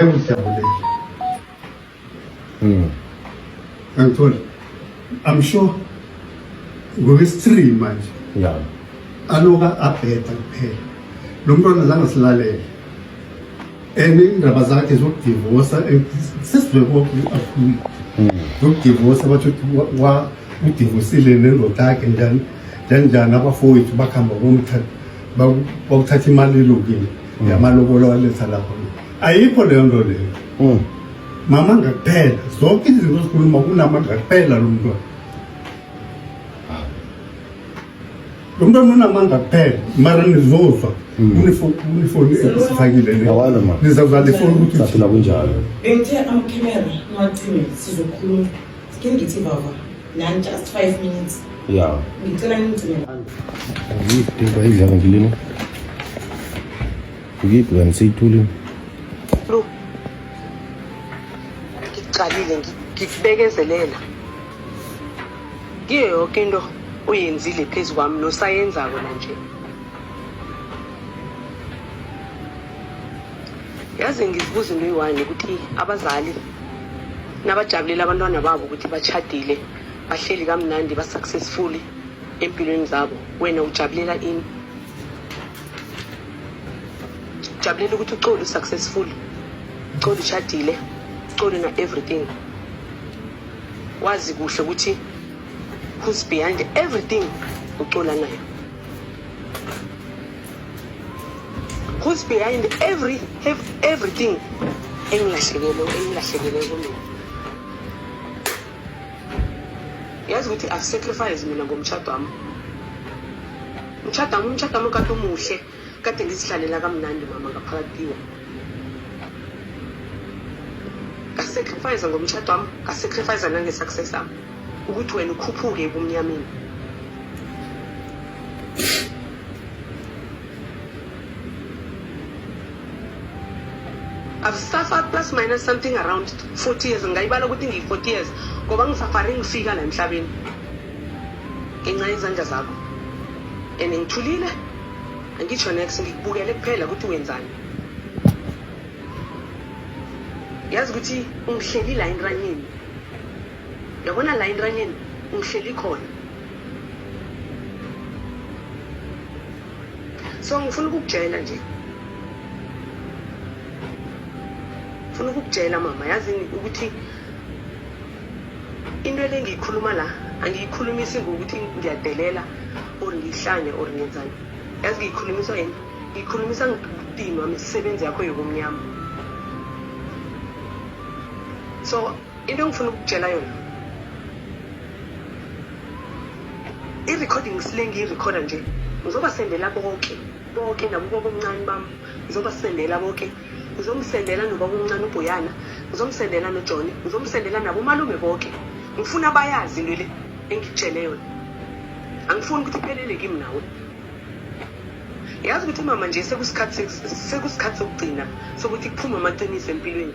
Engijabulele. Mm. Angithola. I'm sure ngoba isitree manje. Yeah. Aloka abheda kuphela. Lo mntwana zange silalele. And indaba zakhe zokudivosa sesizwe konke akhulu. Mm. Zokudivosa bathi wa udivosile nendoda yakhe njani njani njani abafowethu bakhamba komthatha bakuthatha imali ilukile mm. yamalobolo waletha lapho ayikho leyo nto leyo mm. mama ngakuphela zonke izinto zikhuluma kunama ngakuphela lo mntwana ah. lo mntwana unamandla kuphela mara nizozwa unifoni mm. esifakile nizazala ifoni ukuthi kunjalo bengithe amakhemera ngiwacime sizokhuluma ngithi baba Nani just 5 minutes. Yeah. Ngicela ngigcine. Ngiyiphi into ayidla ngilini? Ngiyiphi kanti seyithulile? Lu. Ngiqalile ngikubekezelela. Kiyo yonke into uyenzile phezu kwami nosayenzako nanje. yazi ngizibuza into eyi-one ukuthi abazali nabajabulela abantwana babo ukuthi bachadile bahleli kamnandi ba-successful empilweni zabo wena ujabulela ini ujabulela ukuthi ucoli u-successful ucoli uchadile ucoli na-everything wazi kuhle ukuthi who's behind everything ucola nayo Who's behind every, every everything engilahlekele engilahlekele kumina yazi ukuthi i've sacrifice mina ngomtshado wami umtshado wami umtshado wami kade umuhle kade ngizihlalela kamnandi mama ngaphakathi kiwo ngasacrifice ngomtshado wami ngasacrifice nange-success wami ukuthi wena ukhuphuke ebumnyameni I've suffered plus minus something around 40 years ngayibala ukuthi ngiyi-40 years ngoba ngisafare ngifika la emhlabeni ngenxa yezandla zakho and ngithulile angitsho nex ngikubukele kuphela ukuthi wenzani yazi ukuthi ungihleli la entranini Yabona la entanyeni ungihleli khona. So ngifuna ukukutshela nje. Ngifuna ukukutshela mama yazi ukuthi into elengiyikhuluma la angiyikhulumisi ngokuthi ngiyadelela or ngihlanye or ngenzani yazi ngiyikhulumiswa yini ngiyikhulumisa ngidinwa misebenzi yakho yokumnyama so into engifuna ukutshela yona i-recording sile ngiyirekhoda nje ngizobasendela bonke bonke nabubaba omncane bam ngizobasendela bonke ngizomsendela nobaba omncane ubhoyana ngizomsendela nojoni ngizomsendela nabomalume bonke ngifuna bayazi into le engikutshele yona angifuni ukuthi iphelele kimi nawe yazi ukuthi mama nje sekusikhathi sokugcina sokuthi kuphume amaqiniso empilweni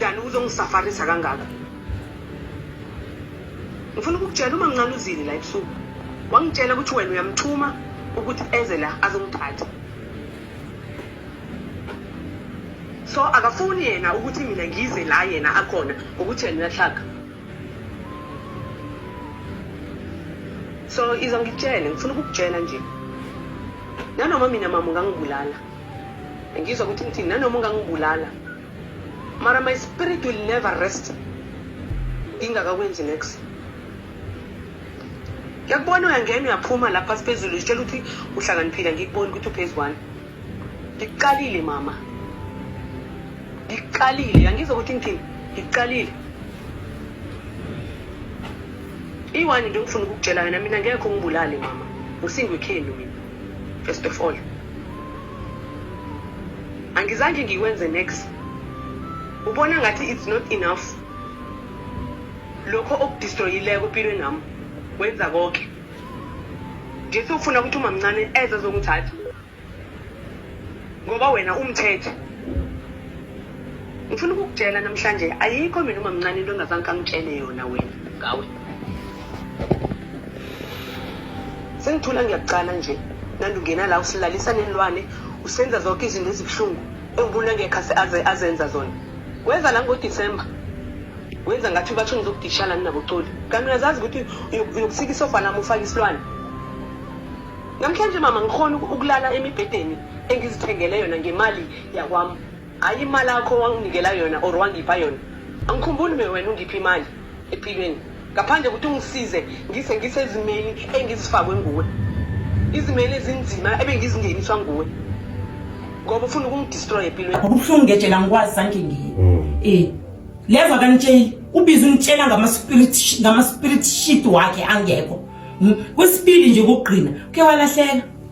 Dani uzongisafarisa kangaka. Ngifuna ukukutshela uma ngincane uzini la ebusuku. Wangitshela ukuthi wena uyamthuma ukuthi eze la azongithatha. So akafuni yena ukuthi mina ngize la yena akhona ukuthi yena uyahlaka. So iza ngitshele ngifuna ukukutshela nje. Nanoma mina mama ungangibulala. Ngizwa ukuthi ngithini nanoma ungangibulala. mara my spirit will never rest ingakakwenzi next ngiyakubona uyangena uyaphuma lapha siphezulu sitshela ukuthi uhlakaniphile ngikuboni ukuthi uphezu kwani ngiqalile mama ngiqalile yangizwa ukuthi ngithini ngiqalile iwani nje ngifuna ukukutshela yona mina ngekho ngibulale mama ngisingwekhenu mina first of all angizange ngikwenze next ubona ngathi it's not enough lokho okudistroyileko empilweni nami wenza konke nje sofuna ukuthi umamncane eze azongithatha ngoba wena umthethe Ngifuna ukukutshela namhlanje ayikho mina uma mncane into engazange kangitshele yona wena ngawe. Sengithula ngiyakucala nje. Nandi ungena la usilalisa nenilwane usenza zonke izinto ezibuhlungu engibuna ngekho aze azenza zona. Weza la ngoDecember. Wenza ngathi ubathu ngizokudishala nina bocoli. Kanti uyazazi ukuthi uyokusika isofa lami ufake isilwane. Namhlanje mama ngikhona ukulala emibhedeni engizithengele yona ngemali yakwami. Hayi imali yakho wanginikela yona or wangipha yona. Angikhumbuli me wena ungipha imali empilweni. Ngaphandle ukuthi ungisize ngise ngisezimeni engizifakwe nguwe. Izimeli ezinzima ebengizingeniswa nguwe. Ngoba ufuna ukungidestroy empilweni. Akubuhlungu ngejela ngikwazi sanke ngiyi. Mm. Eh. Leva kanitsheli ubiza ungitshela ngama spirit ngama spirit shit wakhe angekho. Hmm? Kwesibili nje ukugqina ke walahleka.